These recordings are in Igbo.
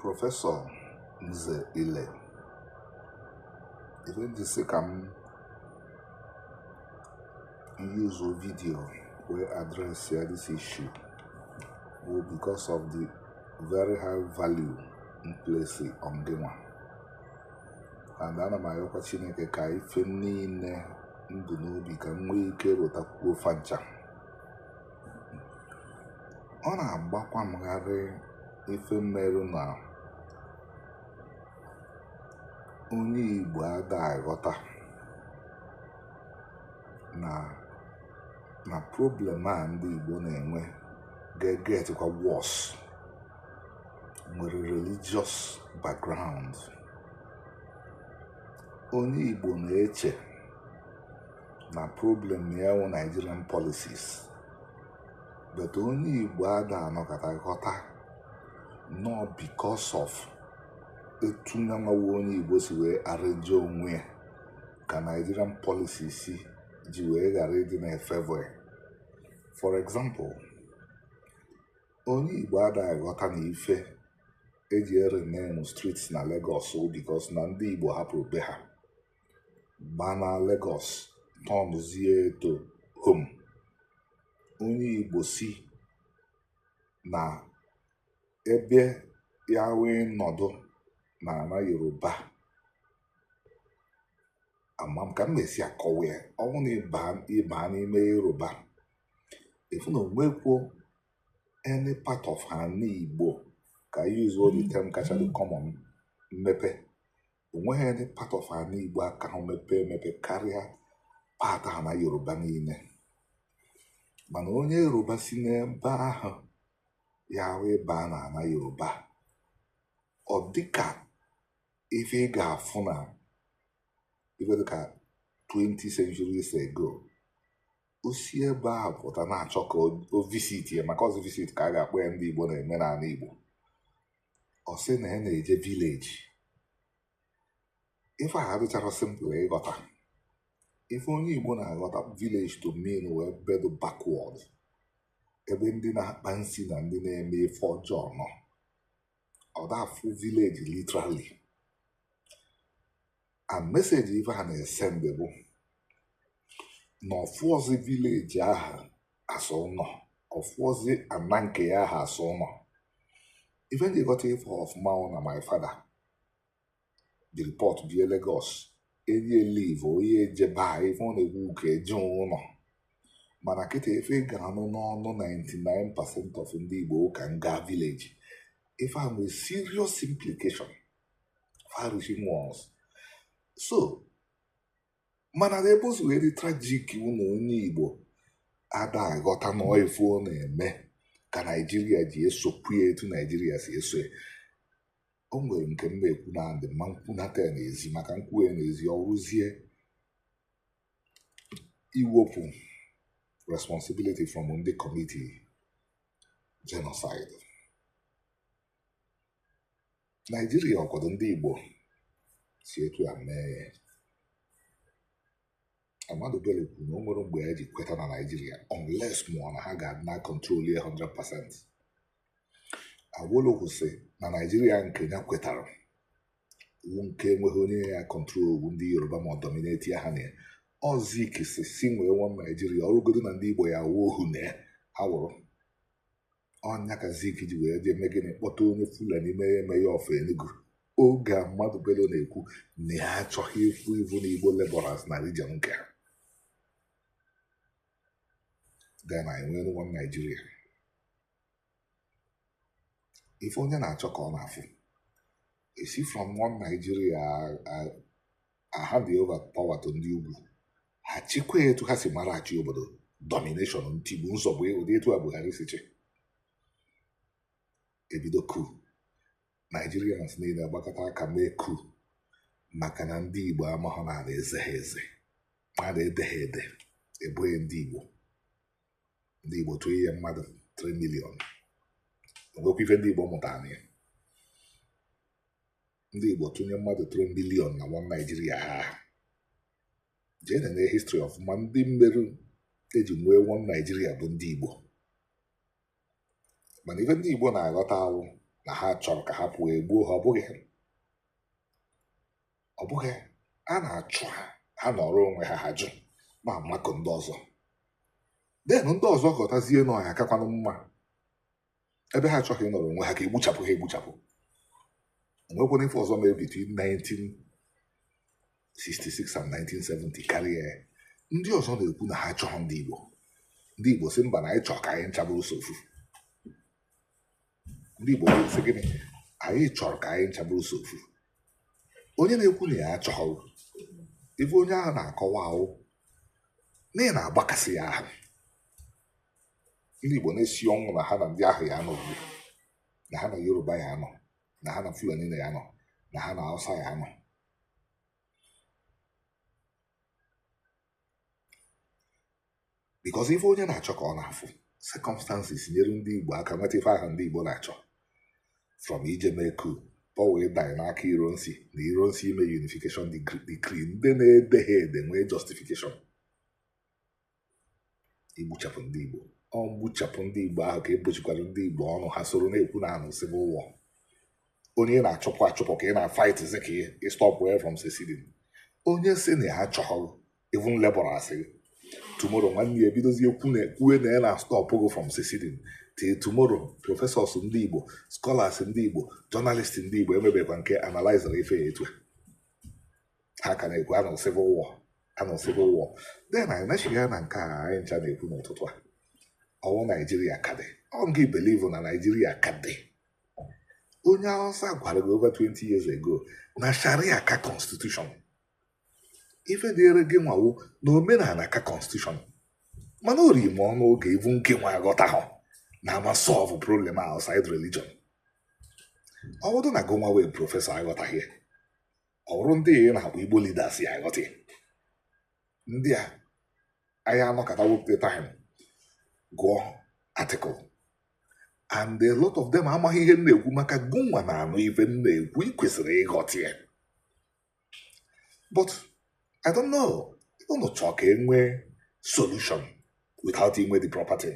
professor nze ile ife m ji sị ka m yuzuo video wee adresịa this issue bụ because of the very high value m place on gịnwa and ana m ayọkwa chineke ka ife niile m bu n'obi ka m nwee ike rụtakwuo fa ncha ọ na-agbakwa m gharị ife merụ na onye Igbo ada aghọta na problem a ndị Igbo na-enwe ga-egetikwa worse nwere religious background onye Igbo na-eche na problem ya wụ Nigerian policies but onye Igbo ada anọkata ghọta na ọ because of etu nyanwa wụ onye Igbo si wee arrange onwe ya ka Nigerian policies si ji wee ghara ịdị na-efavour ya for example onye Igbo ada aghọta na ife eji erename streets na Lagos because na ndị Igbo hapụrụ be ha baa na Lagos turnzie ya to home onye Igbo si na be ya wee nọdụ na ana Yoruba ama m ka m na-esi akọwa ya ọ wụ na ị baa n'ime Yoruba ị fụ na onwekwuo any part of ana Igbo ka e yuzuo the term kacha dị common mmepe onweghị any part of ana Igbo akahụ mepee emepe karịa part ana Yoruba niile mana onye Yoruba si n'ebe ahụ ya wee baa na ana Yoruba ọ dịka ife ị ga-afụ na ife dịka 20 centuries ago o si ebe a pụta na-achọ ka o visitia maka ọzi visit ka a ga-akpọ ya ndị Igbo na-eme n'ana Igbo ọ sị na ya na-eje village ife a adịchara simple ịghọta ife onye Igbo na-aghọta village to mean wụ ebe dụ backward ebe ndị na-akpa nsi na ndị na-eme ife ọjọọ nọ ọ da afụ village literally and message ife a na-esendị bụ na ọ fụọzi village ahụ as ụnọ ọ fụọzi ana nke ya ahụ as ụnọ ife m ji ghọta ife ọfụma wụ na my father the report bie Lagos erie leave onye ejebe a ife ọ na-ekwu ka eje ụnọ mana kịta ife ị ga-anụ n'ọnụ 99 percent of ndị Igbo wụ ka m gaa village ife a nwere serious implication far-reaching ones so mana ebe o si wee dị tragic wụ na onye Igbo ada aghọta na ife ọ na-eme ka naijiria ji esokwu ya etu naijiria si eso ya o nwere nke m na-ekwu na-adị m ma m kwunata ya n'ezi maka m kwuo ya n'ezi ọ wụrụzie iwepụ responsibility from ndị commiti genocide naijiria ọkwado ndị igbo si etu a mee ya Ahmadu Bello kwuru na o nwerọ mgbe ya ji kweta na Naịjirịa unless ma ọ wụ na ha ga-adị na control ya 100%. Awolowo sị na Naịjirịa nke ya kwetara wụ nke enweghị onye ya controlu ndị Yoruba ma ọ dominatie ha na ya. Ọ Zik sị si nwee one Naịjirịa ọ wụrụgodu na ndị Igbo ya-awụ ohu na ya ha wụrụ. ọ ya ka Zik ji wee jee mee gịnị kpọta onye Fulani mee mayor of Enugu oge Ahmadu Bello na-ekwu na ya achọghị ịfụ even Igbo laborers na region nke ha then enwere one Naijiria ife onye na-achọ ka ọ na-afụ esi from one Nigeria a hand over power to ndị ugwu ha chịkwa etu ha si mara achị obodo domination ntigbu nzọgbu ụdị etu a Buhari si chị ebido coup Nigerians niile agbakọta aka mee coup maka na ndị Igbo amaghọ na a na-eze ha eze a na-ede ha ede egbue ndị Igbo ndị Igbo tụnye mmadụ 3 million enwekwa ife ndị Igbo mụtara ya ndị Igbo tụnye mmadụ 3 million na one Naijiria ha jee nene history ọfụma ndị meru eji nwee one Naijiria bụ ndị Igbo mana ife ndị Igbo na-aghọta wụ na ha chọrọ ka ha pụọ egbuo ha ọ bụghị ọ bụghị a na-achụ ha ha nọrọ onwe ha ha jụ ma makụ ndị ọzọ then ndị ọzọ ghọtazie na ọ ya-akakwanụ mma ebe ha achọghị ịnọrọ onwe ha ka egbuchapụ ha egbuchapụ o nwekwanụ ife ọzọ mere between 1966 and 1970 karịa ya ndị ọzọ na-ekwu na ha achọghị ndị Igbo ndị Igbo sị mba na anyị chọrọ ka anyị ncha bụrụ sọ ofu ndị Igbo sị gịnị anyị chọrọ ka anyị ncha bụrụ sọ ofu onye na-ekwu na ya achọghị ife onye ahụ na-akọwa wụ na ị na-agbakasị ya ahụ ndị Igbo na-esi ọnwụ na ha na ndị ahụ ya anọ ugbu na ha na Yoruba ya anọ na ha na Fulani na ya anọ na ha na Hausa ya anọ because ife onye na-achọ ka ọ na-afụ circumstances nyere ndị Igbo aka nweta ife ahụ ndị Igbo na-achọ from ije mee coup power ịdanye n'aka Ironsi na Ironsi ime unification decree ndị na-ede ha ede nwee justification igbuchapụ ndị Igbo ọ gbuchapụ ndị Igbo ahụ ka egbochikwara ndị Igbo ọnụ ha soro na-ekwu na anụ civil war onye ị na-achụpụ achụpụ ka ị na-fightizi ka ị stopuo ya from seceding onye si na ya achọghị even labor asị tomorrow nwanne ya ebidozie kwue na ya na stop gị from seceding till tomorrow professors ndị Igbo scholars ndị Igbo journalists ndị Igbo enwebekwa nke analyzere ife a etu ha ka na-ekwu anụ civil war anụ civil war then anyị nachigha ya na nke a anyị ncha na-ekwu n'ụtụtụ a ọ wụ Naijiria ka dị ọ gị believe na Naijiria ka dị onye Awụsa gwara gị over 20 years ago na Sharia ka constitution ife dịịrị gị nwa wụ na omenala ka constitution mana o riri m ọnụ oge ibu nke nwa aghọtaha na ama solve problem outside religion ọ bụrụ na gụnwa wụ prọfesọ aghọtaghị ọ bụrụ ndị ị na-akpọ Igbo leaders ya aghọta ya. ndị a anyị anọkata wepụta time gụọ article and a lot of them amaghị ihe m na-ekwu maka gụnwa na-anụ ife m na-ekwu ị kwesịrị ịghọta ya but i don't know unu chọọ ka e nwee solution without inwe the property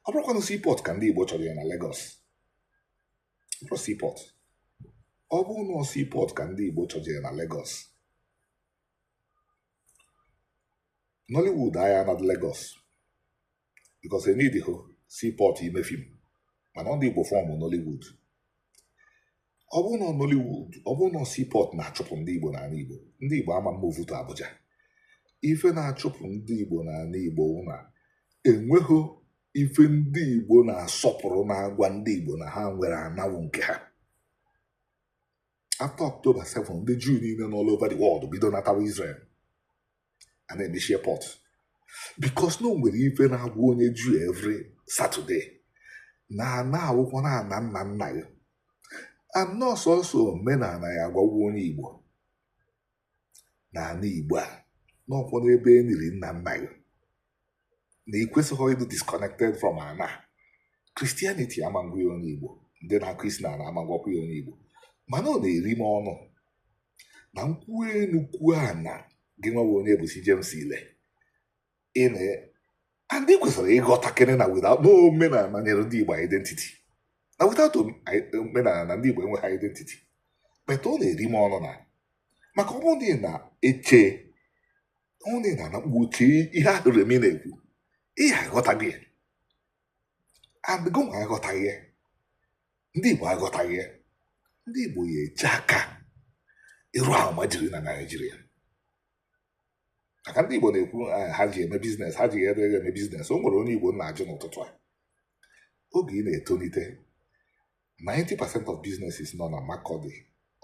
ọ bụrụkwanụ seaport ka ndị Igbo chọjere na Lagos seaport ọ bụrụ na seaport ka ndị Igbo chọjere na Lagos Nollywood aya na Lagos because eneedighị seaport ime film mana ndị Igbo formụ Nollywood ọ bụrụ na Nollywood ọ bụrụ na seaport na-achụpụ ndị Igbo n'ana Igbo ndị Igbo ama move to Abuja ife na-achụpụ ndị Igbo n'ana Igbo wụ na enweghị ife ndị Igbo na-asọpụrụ na-agwa ndị Igbo na ha nwere ana wụ nke ha after October 7 ndị Juu niile nọ all over the world bido natawa Israel a na-emechi airport because na o nwere ife na-agwa onye Juu every Saturday na ana a wụkwanụ ana nna nna gị and na ọ sọsọ omenala ya agwakwa onye Igbo na ana Igbo a na ọ kwanụ ebe e niri nna nna gị na ị kwesịghị ịdị disconnected from ana Christianity ama agwa ya onye Igbo ndị na-akụ isi na ana ama agwakwu ya onye Igbo mana ọ na-eri m ọnụ na-ekwu enu kwuo ana gị nwa Onyebuchi James Ile na ndị kwesịrị ịghọta kene na without na omenala nyere ndị Igbo identity na without omenala na ndị Igbo enweghị identity but ọ na-eri m ọnụ na maka ọ bụrụ na eche ọ na na anakpuo chee ihe ahụ Remi na-ekwu ihe aghọtaghị ya and gị nwa aghọtaghị ya ndị Igbo aghọtaghị ya ndị Igbo ya eche aka ịrụ almajiri na Naịjirịa maka ndị Igbo na-ekwu eh, ha ji eme biznes ha ji eme biznes o nwere onye Igbo na-ajụ n'ụtụtụ a oge ị na-etolite 90% of businesses nọ na Makurdi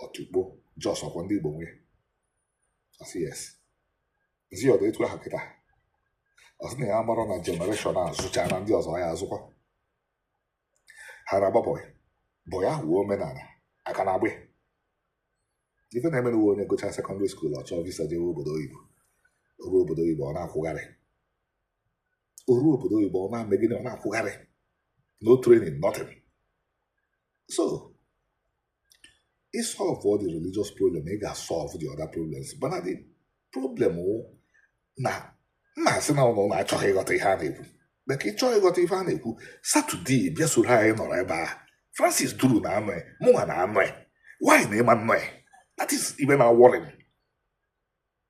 Otukpo Jos ọkwa ndị Igbo nwe ọ sị yes m sị ya ọ dị etu ahụ kịta ọ sị na ya mara na jenereshọn a zụchaa na ndị ọzọ ya azụkwa ha na-agba bọị bọị ahụ wụ omenala a ka na-agba ife na-emenụ wụ onye gụchaa sekọndịrị skuul ọ chọọ visa jewe obodo oyibo o ruo obodo oyibo ọ na-akwụgharị o ruo obodo oyibo ọ na-eme gịnị ọ na-akwụgharị no training nothing so ị solve all the religious problem ị ga-solve the other problems but the problem wụ na m na-asị na unu achọghị ịghọta ihe a na-ekwu maka ị chọọ ịghọta ihe a na-ekwu Satọde bịa soro anyị nọrọ ebe a Francis Duru na-anọ ya mụnwa na-anọ ya why na ị ma-anọ ya that is ife na-worry m